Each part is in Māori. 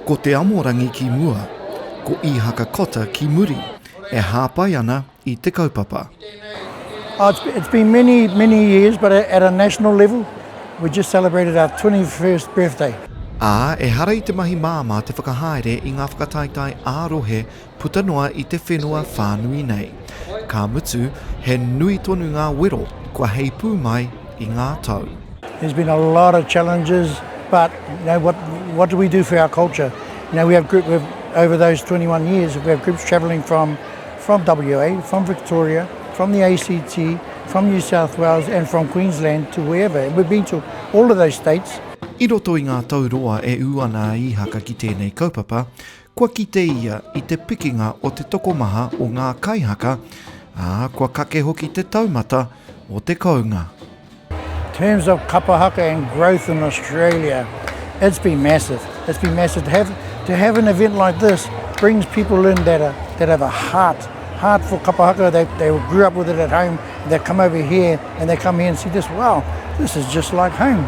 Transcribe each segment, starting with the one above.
Ko Te Amorangi ki mua, ko Ihaka Cotter ki muri, e hāpai ana i te kaupapa. Oh, it's, it's been many, many years, but at a national level, we just celebrated our 21st birthday. Ā, ehara i te mahi māmā te whakahaere i ngā whakataetae ā-rohe puta noa i te whenua whānui nei. Ka mutu, he nui tonu ngā wero kua heipū mai i ngā tau. There's been a lot of challenges, but you know, what, what do we do for our culture? You know, we have group, we've, over those 21 years, we have groups travelling from, from WA, from Victoria, from the ACT, from New South Wales and from Queensland to wherever. And we've been to all of those states. I roto i ngā tau roa e ū ana a Īhaka ki tēnei kaupapa, Kua kite ia i te pikinga o te tokomaha o ngā kaihaka, ā, kua kake hoki te taumata o te kounga. terms of kapa haka and growth in Australia, it's been massive, it's been massive. To have, to have an event like this brings people in that, are, that have a heart, heart for kapa haka, they, they grew up with it at home, they come over here and they come here and see this, wow, this is just like home.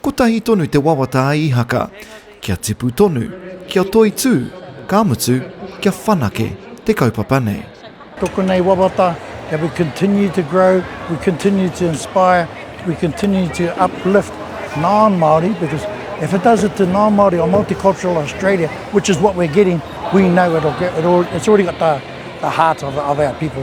Kotahi tonu te wawata a Ihaka, kia tipu tonu, kia toitū, ka mutu, kia whanake te kaupapa nei. Tōku nei wawata, that we continue to grow, we continue to inspire, we continue to uplift non-Māori, because if it does it to non-Māori or multicultural Australia, which is what we're getting, we know it'll, it's already got the heart of our people.